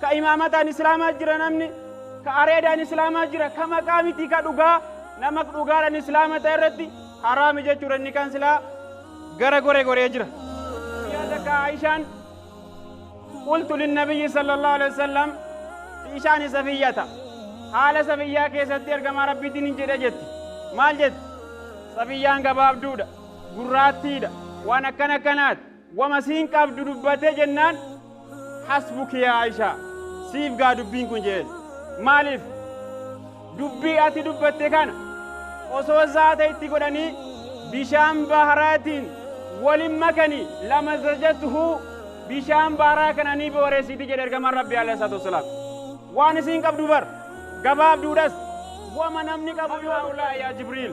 Ka imaamataan Islaamaa jira namni, ka areedaan Islaamaa jira, ka maqaa miti ka dhugaa, nama dhugaadhaan Islaama ta'e irratti haraami jechuudha inni kan silaa gara gore goree jira. Guyyaa takka Aishaan qultu linnabiyyi sallallahu alaihi wasallam fi ishaani safiyyata haala safiyyaa keessatti ergamaa rabbiitiin hin jedhe jetti. Maal jetti? Safiyyaan gabaabduudha, gurraattiidha, waan akkana akkanaati. Wama siin qabdu dubbatee jennaan hasbuki yaa Aisha siif gaa dubbiin kun jeen maaliif dubbii ati dubbatte kana osoo zaata itti godhanii bishaan baharaatiin walin makanii lama zajatuhu bishaan baharaa kana ni booreessiti jedhe ergamaan rabbi alayhi salaatu wassalaam waan isiin qabdu bar gabaabduudhas wama namni qabu yoo haulaa yaa jibriil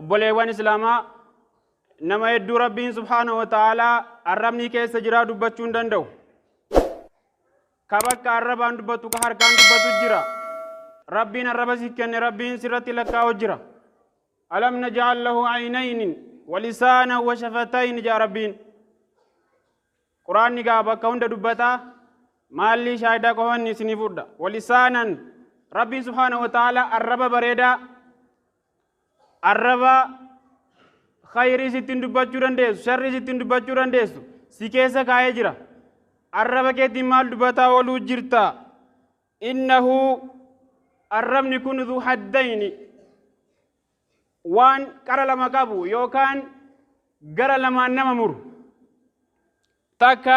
obboleewwan islaamaa nama hedduu rabbiin subhaanahu wa ta'aalaa arrabni keessa jiraa dubbachuu hin danda'u ka bakka arrabaan dubbatu ka harkaan dubbatu jira rabbiin arraba si kenne rabbiin sirratti lakkaa'u jira alam naj'al lahu aynayni wa lisaanan wa shafatayni jaa rabbiin quraanni gaa bakka hunda dubbataa maallii shaayidaa qofanni isinii fudha wa lisaanan rabbiin subhaanahu wa ta'aalaa arraba bareedaa arraba khayriis ittiin dubbachuu dandeessu sharriis ittiin dubbachuu dandeessu si keessa kaa'ee jira arraba keetiin maal dubbataa ooluu jirta innahu arrabni kun dhu haddayni waan qara lama qabu yookaan gara lamaan nama muru takka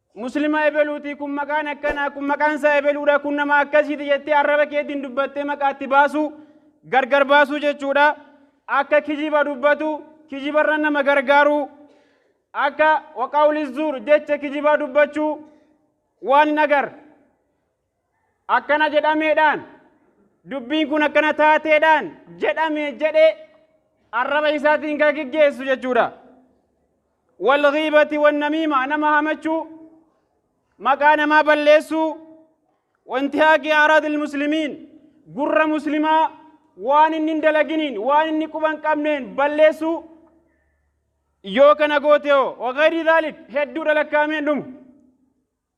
Muslima ebeluuti kun maqaan akkanaa kun maqaan isaa ebeluudha kun nama akkasiiti jettee arraba keetiin dubbattee maqaatti baasuu gargar baasuu jechuudha. Akka kijiba dubbatu kijibarra nama gargaaruu akka waqaawli zuur jecha kijibaa dubbachuu waan hin agar. akkana jedhameedhaan dubbiin kun akkana taateedhaan jedhame jedhee arraba isaatiin kan geggeessu jechuudha. Walghiibati wannamiima nama hamachuu maqaa namaa balleessuu wanti haaqii araadil muslimiin gurra muslimaa waan inni hin dalaginiin waan inni quban qabneen balleessuu yoo kana goote hoo wagayri daalik hedduudha lakkaa'ameen dhumu.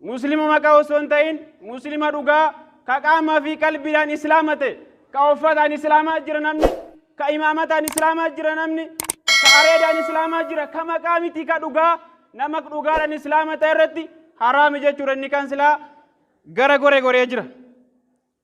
Muslima maqaa osoo hin ta'in muslima dhugaa ka qaamaa fi qalbiidhaan islaama ta'e ka uffataan islaamaa jira namni ka imaamataan islaamaa jira namni ka areedaan islaamaa jira ka maqaa miti ka dhugaa nama dhugaadhaan islaama ta'e irratti haraami jechuudha inni kan silaa gara gore goree jira.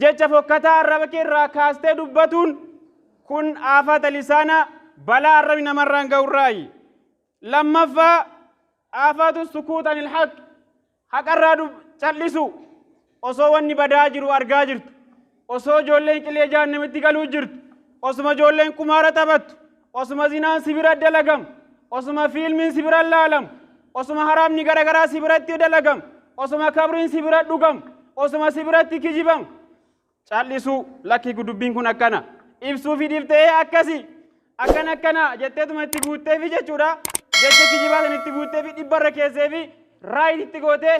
Jecha fokkataa arraba kee irraa kaastee dubbatuun kun aafata lisaanaa balaa arrabi namarraan ga'urraayi. Lammaffaa aafaatu sukuut anil haq haqarraa dub cal'isu osoo wanni badaa jiru argaa jirtu osoo ijoolleen qilee jahannamitti galuu jirtu osuma ijoolleen qumaara taphattu Osuma zinaan si bira dalagamu, osuma fiilmiin si bira laalamu, osuma haraamni garagaraa si biratti dalagamu, osuma kabriin si bira dhugamu, osuma si biratti kijibamu. Cal'isuu lakki dubbiin kun akkana. Ibsuu fi dhiftee akkasi. Akkan akkana jetteetuma itti guutteefi jechuudha. Jecha kijibaa sana itti guutteefi dhibbarra keesseefi raayit itti gootee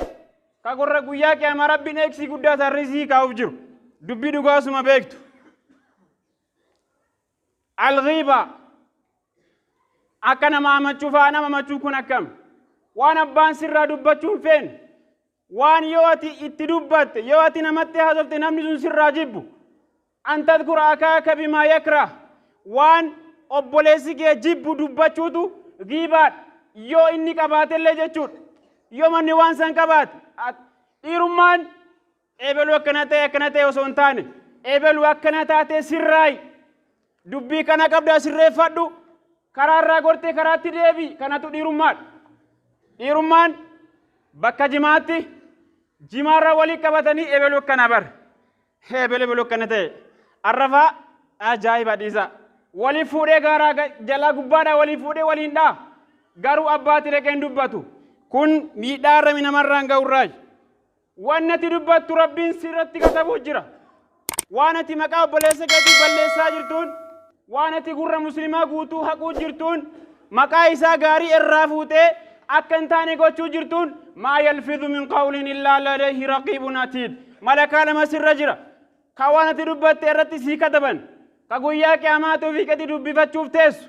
ka gorra guyyaa qiyaamaa rabbiin eegsii guddaa sarrisii kaa'uuf jiru. Dubbii dhugaa osuma beektu. Alghiibaa. Akka nama amachuu fa'a nama machuu kun akkam? Waan abbaan sirraa dubbachuu hin feene. Waan yoo ati itti dubbatte, yoo ati namatti haasofte namni sun sirraa jibbu. An tadkura akaaka bimaa yakra. Waan obboleessi kee jibbu dubbachuutu ghiibaadha. Yoo inni qabaatellee jechuudha. Yoo manni waan san qabaate. Dhiirummaan Ebelu akkana ta'e akkana ta'e osoo hin taane ebelu akkana taatee sirraayi dubbii kana qabdaa sirreeffadhu karaa irraa gortee karaatti deebi kanatu dhiirummaadha. Dhiirummaan bakka jimaatti jimaarra walii qabatanii ebelu akkana bar ebelu ebelu akkana ta'e arrafaa ajaa'iba dhiisaa walii fuudhee gaaraa ga- jalaa gubbaadhaa walii fuudhee waliin dhaa garuu abbaatti dhaqee hin dubbatu kun miidhaa irra namarraan ga'urraayi. Waan ati dubbattu Rabbiin sirratti katabuuf jira. Waan ati maqaa obboleessa keetii balleessaa jirtuun, waan ati gurra muslimaa guutuu haquu jirtuun, maqaa isaa gaarii irraa fuutee akka hin taane gochuu jirtuun maa yalfidhu min qawlin illaa ladayhi raqiibun atiid. Malakaa lama sirra jira. Ka waan ati dubbatte irratti sii kataban. Ka guyyaa qiyaamaatuu fi qeti dubbifachuuf teessu.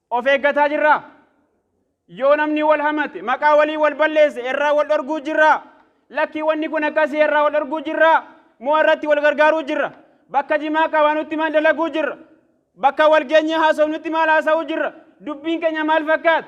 Of eeggataa jirraa? Yoo namni wal hamate, maqaa walii wal balleesse irraa wal dhorguu jirraa? Lakkii wanni kun akkasii irraa wal dhorguu jirraa? Moo irratti wal gargaaruu jirra? Bakka jimaa qabaanutti maal dalaguu jirra? Bakka wal geenyee haasofnutti maal haasa'uu jirra? Dubbiin keenya maal fakkaata?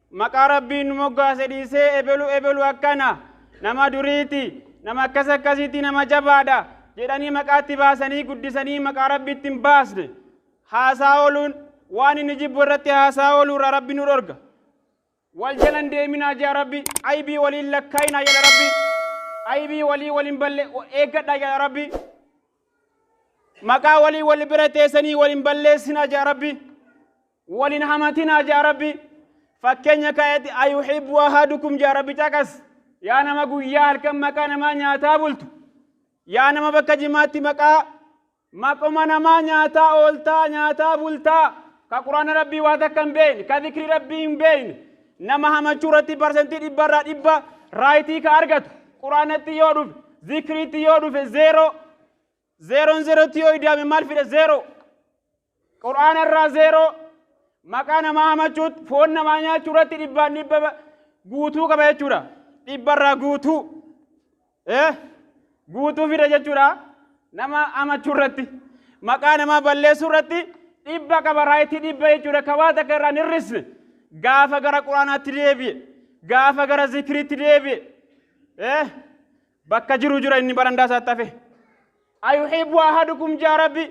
Maqaa Rabbiin nu moggaase dhiisee ebelu ebelu akkana, nama duriiti, nama akkas akkasiiti, nama jabaadha jedhanii maqaatti baasanii guddisanii maqaa Rabbiitti hin baasne. Haasaa ooluun waan inni jibbu irratti haasaa ooluu irraa Rabbi nu dhorga. Wal jala hin deeminaa jaa Rabbi, aybii walii hin lakkaayinaa jedha Rabbi. Aybii walii wal hin balle eeggadhaa jedha Rabbi. Maqaa walii wal bira teessanii wal hin balleessinaa jedha Rabbi. wal hin hamatinaa jaa rabbi fakkeenya kaa'etti ayuhibbu ahadukum jaa rabbi caqas yaa nama guyyaa halkan maqaa namaa nyaataa bultu yaa nama bakka jimaatti maqaa maquma namaa nyaataa ooltaa nyaataa bultaa ka quraana rabbii waa takka hin beekne ka zikrii rabbii hin beekne nama hamachuu irratti parsantii dhibba irraa dhibba raayitii ka argatu quraanatti yoo dhufe zikriitti yoo dhufe zeeroo zeeroon zeerootti yoo idaame maal fida zeeroo Qur'aana irraa zeeroo maqaa namaa hamachuutti foon namaa nyaachuu irratti dhibbaan dhibba ba- guutuu qaba jechuudha. Dhibba irraa guutuu. Eh? Guutuu fida jechuudha. Nama hamachuu irratti. Maqaa namaa balleessuu irratti dhibba qaba raayitii dhibba jechuudha. Ka waa takka irraa hin hir'isne. Gaafa gara quraanaatti deebi'e. Gaafa gara zikiriitti deebi'e. Eh? Bakka jiru jira inni barandaa isaatti hafe. Ayuhibbu ahadukum jaa rabbi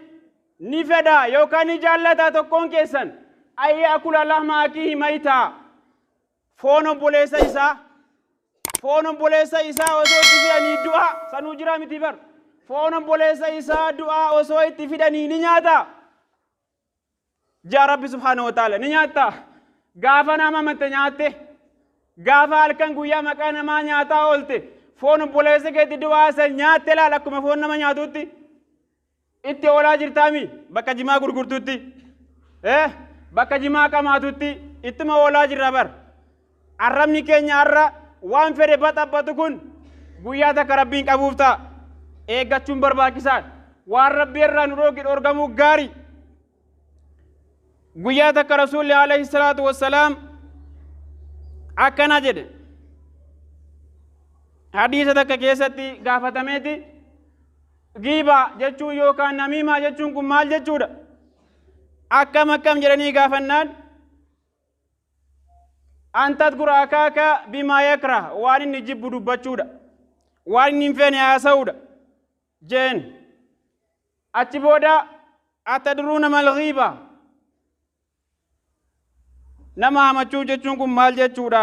ni fedha yookaan ni jaallata tokkoon keessan ayya akula lahma akiihi mayitaa foon obboleessa isaa foon obboleessa isaa osoo itti fidanii du'aa sanuu jiraa miti bar foon obboleessa isaa du'aa osoo itti fidanii ni nyaata Jaa Rabbi subhaanahu wa ta'ala ni nyaattaa? Gaafa nama amatte nyaatte, gaafa halkan guyyaa maqaa namaa nyaataa oolte, foon obboleessa keetti du'aa san nyaatte laal akkuma foon nama nyaatutti. Itti oolaa jirtaami bakka jimaa gurgurtutti. Eh, bakka jimaa qamaatutti ittuma oolaa jirra bar. Arrabni keenya har'a waan fedhe baxaphatu kun guyyaa takka Rabbiin qabuuf ta'a. Eeggachuun barbaachisaadha. Waan Rabbi irraa nu dhooge dhorgamuu gaari. Guyyaa takka Rasuulli alayhi salaatu wassalaam akkana jedhe. Hadiisa takka keessatti gaafatameeti giibaa jechuun yookaan namiimaa jechuun kun maal jechuudha? Akkam akkam jedhanii gaafannaan an tadkuru akaaka bimaa yakrah waan inni jibbu dubbachuudha waan inni hin feene haasa'uudha jeen achi booda atadruuna mal ghiiba nama hamachuu jechuun kun maal jechuudha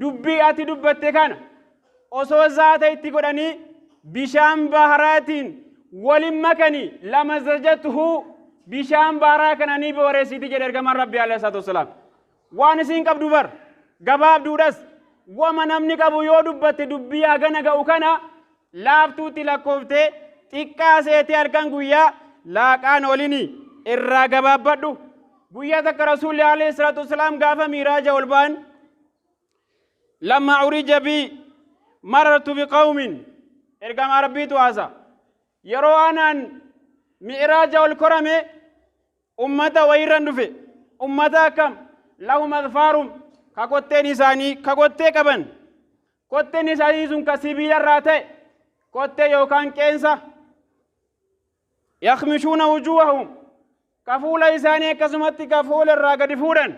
Dubbii ati dubbatte kana osoo zaata itti godhanii bishaan baharaatiin walin makanii lamazajatuhu bishaan baharaa kana ni booreessiti jedhe ergamaan rabbi alayhi salaatu wassalaam waan isiin qabdu bar gabaabduudhas wama namni qabu yoo dubbatte dubbii hagana ga'u kana laaftuutti lakkooftee xiqqaa seetee halkan guyyaa laaqaan olini irraa gabaabbadhu guyyaa takka rasuulli alayhi salaatu wasalaam gaafa miiraaja ol ba'an lamma urija bi marartu bi qawmin ergamaa rabbiitu haasa yeroo anaan mi'raaja ol korame Ummata wayirran dhufe. Ummata akkam? Lahum adfaarum ka kotteen isaanii ka kottee qaban. Kotteen isaanii sun ka sibiilarraa ta'e kottee yookaan qeensa. Yakmishuuna wujuuhahum ka fuula isaanii akkasumatti ka foon irraa gadi fuudhan.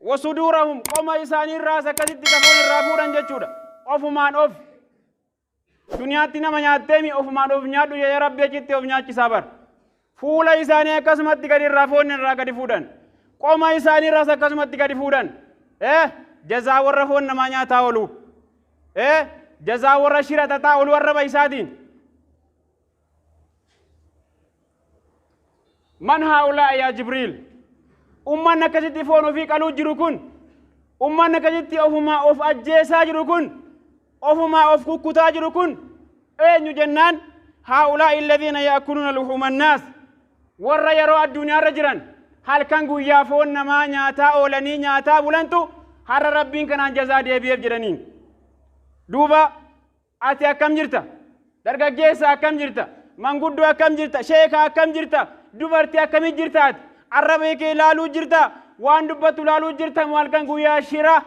Wasuduurahum qoma isaanii irraas akkasitti ka foon irraa fuudhan jechuudha. Ofumaan of. Duniyaatti nama nyaatteemi ofumaan of nyaadhu jedhee rabbi achitti of nyaachisaa bar. Fuula isaanii akkasumatti gadi irraa foon irraa gadi fuudhan. Qoma isaanii irraas akkasumatti gadi fuudhan. Eh jazaa warra foon namaa nyaataa oolu. Eh jazaa warra shira xaxaa oolu arraba isaatiin. man haa'ulaa yaa jibriil ummanni akkasitti foon ofii qaluu jiru kun ummanni akkasitti ofumaa of ajjeesaa jiru kun ofumaa of kukkutaa jiru kun eenyu jennaan haa'ulaa illadiina yaakuluuna luhuuma annaas warra yeroo addunyaarra jiran halkan guyyaa foon namaa nyaataa oolanii nyaataa bulantu har'a rabbiin kanaan jazaa deebi'eef jedhaniin duuba Ati akkam jirta? Dargaggeessa akkam jirta? Manguddoo akkam jirta? Sheeka akkam jirta? Dubartii akkamii jirta ati? Arraba kee ilaaluu jirta? Waan dubbattu ilaaluu jirta moo halkan guyyaa shira?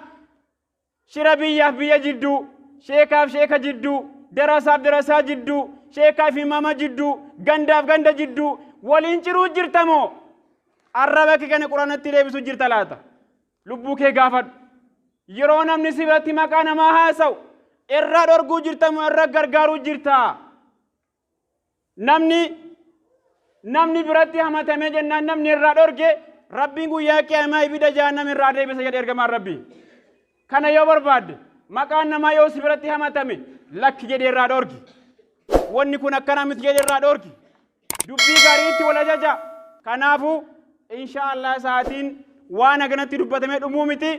Shira biyyaaf biyya jidduu, sheekaaf sheeka jidduu, darasaaf darasaa jidduu, sheekaaf imaama jidduu, gandaaf ganda jidduu waliin ciruu jirta moo? Arraba kee kana quraanatti deebisuu jirta laata? Lubbuu kee gaafadhu. Yeroo namni si biratti maqaa namaa haasa'u irraa dhorguu jirta moo irra gargaaruu jirta? Namni namni biratti hamatamee jennaan namni irraa dhorge rabbiin guyyaa qiyaamaa ibida jahannam irraa deebisa jedhe ergamaan rabbii. Kana yoo barbaadde maqaan namaa yoo si biratti hamatame lakki jedhee irraa dhorgi. Wanni kun akkana miti jedhee irraa dhorgi. Dubbii gariitti wal ajaja. Kanaafu, inshaa Allah sa'atiin waan haganatti dubbatamee dhumuu miti.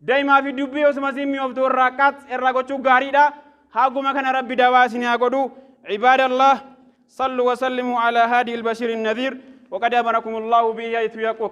Daimaa fi dubbii osuma isiin mi'ooftuu irraa qax irraa gochuu gaariidha. Haguma kana Rabbi dawaa isinii haa godhu. Ibaada Allah! Sallu wa sallimu ala haadi il-bashiri nadhiir. Waqad amarakum Allahu bihi haythu yaqul.